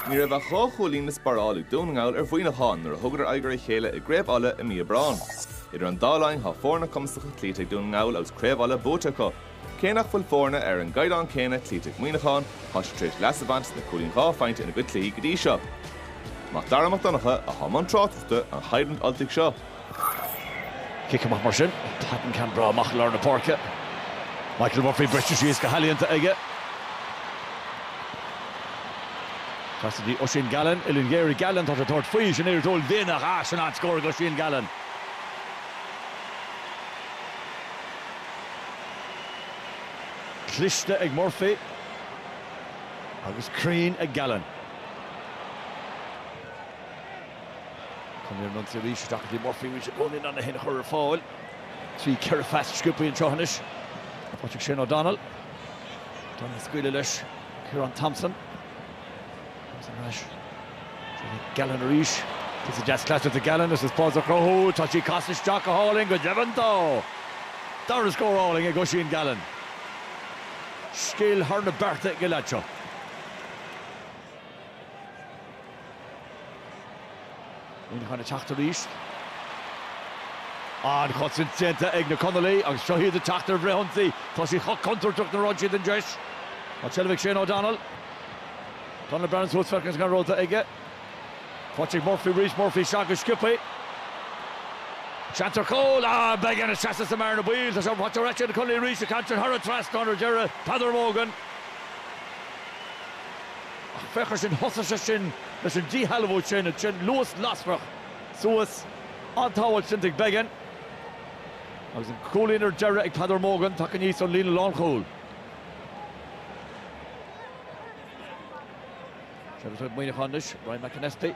Ní raibh ach dhá chúilín le sparáil ag Dún na nGall ar Mhuineachán nuair a thugadar aghaidh ar a chéile i gCraobh Uladh i mí Aibreán. Idir an dá linn tá foirne cumasacha cloíte ag Dún na nGall agus Craobh Uladh buaite acu. Cé nach bhfuil foirne ar an gcaighdeán céanna cloíte ag Muineachán, tá siad tar éis leas a bhaint as na cúilíní dhá phointe ina gcuid cluichí go dtí seo. Mac Dara Mac Donncha atá i mbun tráchtaireachta an choimhlint Ultaigh seo. Cic amach mar sin. Patton ceann breá amach i lár na páirce. Michael Murphy briste síos go healaíonta aige. Trasna go dtí Oisín Gallen, uillinn ghéar ag Gallen tá sé tabhairt faoi sin éir dóil déine a sin an scór ag Oisín Gallen. Cliste ag Murphy agus cruinn ag Gallen. Conallaigh ar an ionsaí arís, Doherty, Murphy arís i gcónaí in ann é féin a chur ar fáil trí cheithre phas sciobtha anseo anois. Faighte ag Shane O'Donnell. O'Donnell á scaoileadh leis Ciarán Thompson. Thompson ar ais go dtí Gallen arís. Takes a deas clatter to Gallen, deis is spás a chruthú, tá sí casta isteach go hálainn go deimhin dó! Dara scór álainn ag Oisín Gallen. Scil thar na bearta ag an leaid seo. Muineachán ag teacht arís. An-chosaint déanta ag na Conallaigh agus seo hiad ag teacht ar fhrithionsaí tá siad chomh contúirteach nuair a fhaigheann siad an deis. An tseilbh ag Shane O'Donnell. Donnell breathnaíonn suas feiceann sé cén rogha atá aige. Faighte ag Murphy arís, Murphy isteach go sciobtha. Seans ar chúl. Ah, Beggan a sheas sa mbearna baoil? Tá sé faighte ar ais ag na Conallaigh arís, an ceann seo thar an trasnán ar deireadh. Peadar Mogan. Ach féach air sin, thosaigh sé sin leis an díshealbhú sin, ansin luas lasrach suas, an-tsábháil déanta ag Beggan agus an cúilín ar deireadh ag Peadar Mogan, tagtha aníos ón líne lánchúil. Seilbh ag Muineachán anois, Ryan McAnespie.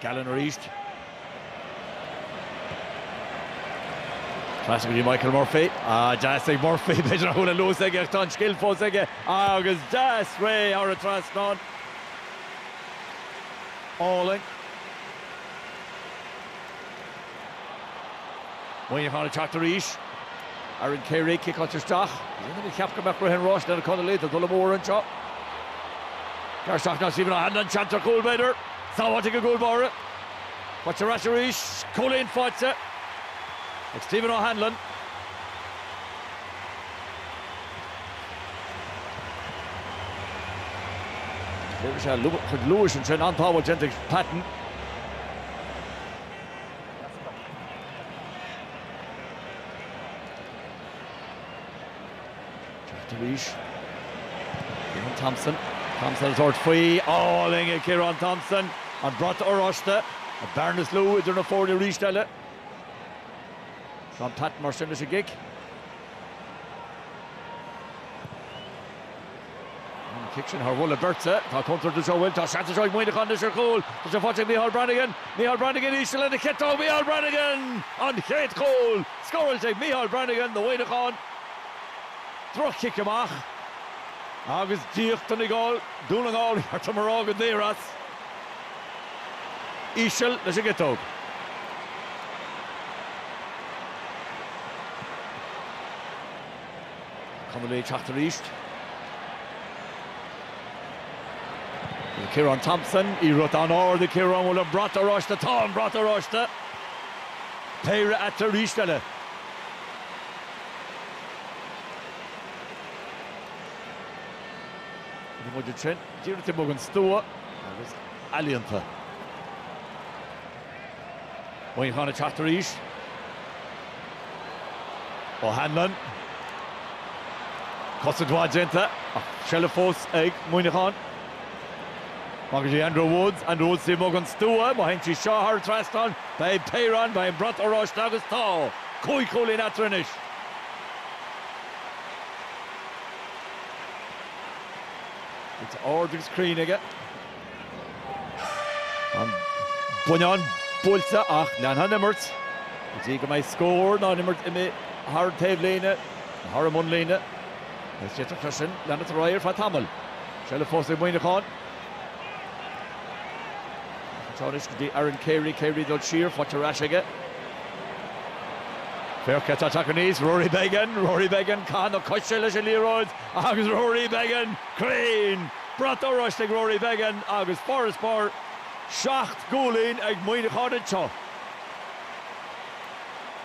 Gallen arís. Trasna go dtí Michael Murphy. Ah, deas ag Murphy. B'fhéidir nach bhfuil an luas aige ach tá an scil fós aige. Ah, agus deas réidh thar an trasnán. Álainn. Muineachán ag teacht arís. Aaron Carey ag ciceáilt isteach. Aon duine a cheap go mbeadh rith an ráis leis na Conallaigh tá dul amú orthu anseo. Gearradh isteach ná Stephen O'Hanlon, seans ar chúl b'fhéidir. Sábháilte ag an gcúlbáire. Faighte ar ais arís. Cúilín faighte ag Stephen O'Hanlon. Déanfaidh sé a chuid luais ansin. An-tsábháil déanta ag Patton. Teacht arís. Ciarán Thompson. Thompson ag tabhairt faoi. Álainn ag Ciarán Thompson. An brat oráiste, an bearna is lú idir na foirne arís eile. Tá Patton mar sin leis an gcic. An cic sin thar mhullach beirte. Tá contúirt anseo, an bhfuil? Tá seans anseo ag Muineachán anois ar chúl. Tá sé faighte ag Micheál Brannigan. Micheál Brannigan íseal lena chiotóg. Micheál Brannigan! An chéad chúl, scóráilte ag Micheál Brannigan do Mhuineachán. Droch-chic amach agus d'íoc Donegal, Dún na nGall ba cheart dom a rá, go daor as. Íseal leis an gciotóg. Conallaigh ag teacht arís? Ciarán Thompson, liathróid an-ard ag Ciarán, an bhfuil an brat oráiste? Tá an brat oráiste! Péire eatarthu arís eile. Ní móide sin, díreach taobh amuigh den stua agus ealaíonta. Muineachán ag teacht arís. O'Hanlon. Cosaint mhaith déanta ach seilbh fós ag Muineachán. Amach go dtí Andrew Woods, Andrew Woods taobh amuigh den stua, má théann sí seo thar trasnán, beidh péire ann, beidh an brat oráiste agus tá cúig chúilín eatarthu anois. Woods ard agus cruinn aige. An bonnán buailte ach leanfaidh an imirt go dtí go mbeidh scór nó an imirt imithe thar an taobhlíne nó thar an mbonnlíne. D'fhéadfadh sé sin leanúint ar aghaidh ar feadh tamaill. Seilbh fós ag Muineachán. Tá anois go dtí Aaron Carey. Carey ag dul siar. Faighte ar ais aige. Fear ceart ag teacht aníos. Rory Beggan. Rory Beggan. Ceann na coise leis an liathróid agus Rory Beggan cruinn! Brat oráiste ag Rory Beggan agus farasbarr seacht gcúilín ag Muineachán anseo.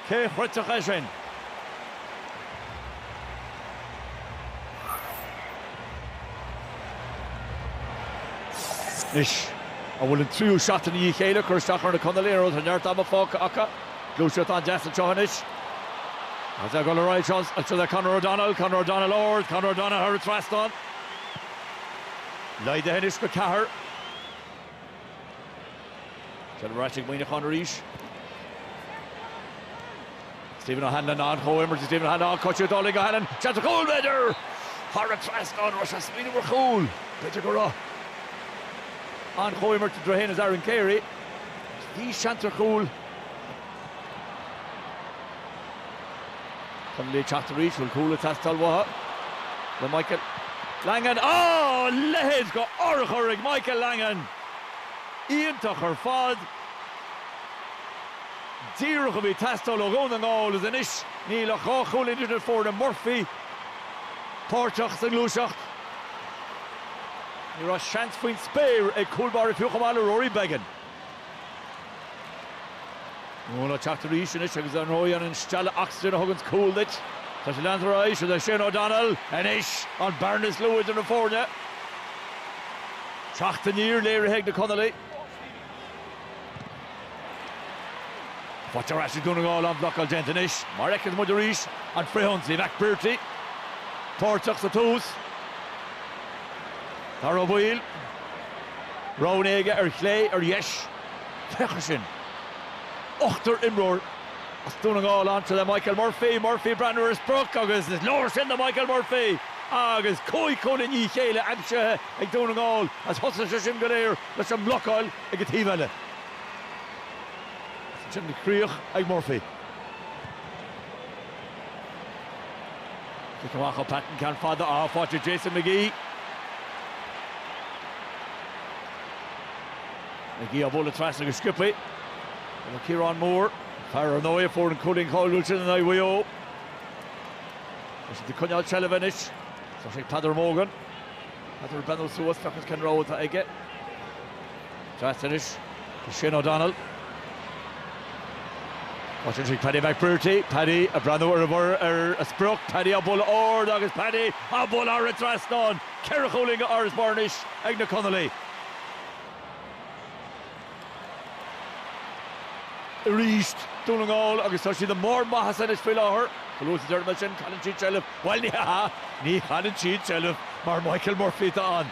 Cé chreidfeadh é sin? Anois, an bhfuil an tríú seachtain i ndiaidh a chéile ag cur isteach ar na Conallaigh? Go leor leor, neart ama fágtha acu? Gluaiseacht an-deas anseo anois. Agus ag dul ar aghaidh anseo le Conor O'Donnell, Conor O'Donnell ard, Conor O'Donnell thar an trasnán. Laghdaithe anois go ceathair. Seilbh ar ais ag Muineachán arís. Stephen O'Hanlon an chomhimirt ag Stephen O'Hanlon, cosúil le Dálaigh O'Hanlon, seans ar chúl, b'fhéidir! Thar an trasnán arís as faoin uair chúil, b'fhéidir go raibh an chomhimirt idir é fhéin is Aaron Carey agus bhí seans ar chúl. Conallaigh ag teacht arís, bhfuil cúl ag teastáil uathu le Michael Langan. Á! Leithéid de urchar ag Michael Langan! Iontach ar fad! Díreach a bhí ag teastáil ó Dhún na nGall is anois níl ach dhá chúilín idir na foirne, Murphy páirteach sa ngluaiseacht. Ní raibh seans faoin spéir ag cúlbáire fiú chomh maith le Rory Beggan. Muna teacht arís anois agus dar ndóigh an stealladh oxygen a thuganns cúl duit, tá sé leanta ar aghaidh, seo é Shane O'Donnell anois, an bearna is lú idir na foirne. Teacht aniar léirithe ag na Conallaigh. Faighte ar ais ag Dún na nGall, an bhlocáil déanta anois. Mar a fheiceas muid arís an frithionsaí, McBrearty páirteach sa tús. Dáire Ó Baoill. Roghanna aige ar chlé, ar dheis. Féach air sin. Ochtar imreoir as Dún na nGall a'nta le Michael Murphy. Murphy, breathnú ar an sprioc agus is leor sin do Michael Murphy. Agus cúig chúilín i ndiaidh a chéile aimsithe ag Dún na nGall is thosaigh sé sin go léir leis an mblocáil ag an taobh eile. Agus ansin an chríoch ag Murphy. Cic amach ó Patton, ceann fada atá faighte ag Jason McGee. McGee á bhualadh trasna go sciobtha, Ciarán Moore. Fear ar ndóigh a fuair an cúilín cáiliúil sin in aghaidh Mhaigh Eo. Tá siad ag coinneáil seilbh anois. Tá sé ag Peadar Mogan. Peadar ag breathnú suas, feiceas cén rogha atá aige. Trasna anois go Shane O'Donnell. Faighte anois ag Paddy McBrearty. Paddy ag breathnú ar an sprioc. Paddy á bhualadh ard agus Paddy á bhualadh thar an trasnán. Ceithre chúilín d'fharasbarr anois ag na Conallaigh. Arís Dún na nGall agus tá siad i mbarr a maitheasa anois faoi láthair. Chomh luath is a deirim é sin, cailleann siad seilbh. Bhuel, ní hea, ní chailleann siad seilbh mar Michael Murphy atá ann.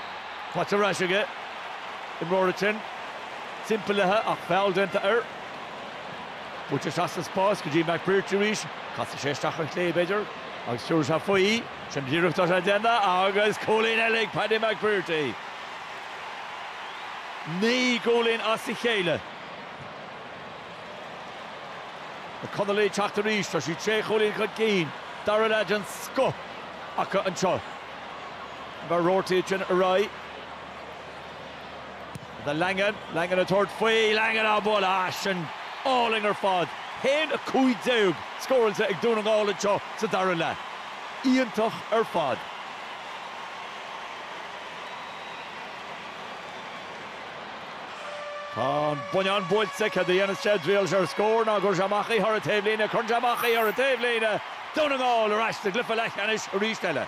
Faighte ar ais aige. Imreoir ansin timpeallaithe ach feall déanta air. Buailte isteach sa spás go dtí McBrearty arís. Casfaidh sé isteach ar chlé, b'fhéidir, agus tabharfaidh sé faoi. Sin díreach atá déanta agus cúilín eile ag Paddy McBrearty. Naoi gcúilín as a chéile, na Conallaigh ag teacht arís. Tá siad sé chúilín chun cinn. Dara leath den scoth acu anseo. Mac Ruairí sin ar aghaidh. Langan, Langan ag tabhairt faoi, Langan á bualadh ansin álainn ar fad. 1-15 scóráilte ag Dún na nGall anseo sa dara leath. Iontach ar fad. Tá an bonnán buailte, cad a dhéanfas sé? Triail sé ar scór, nó an gcuirfidh sé amach í thar an taobhlíne, cuireann sé amach í thar an taobhlíne! Dún na nGall ar ais sa gcluiche leathcheannais arís eile.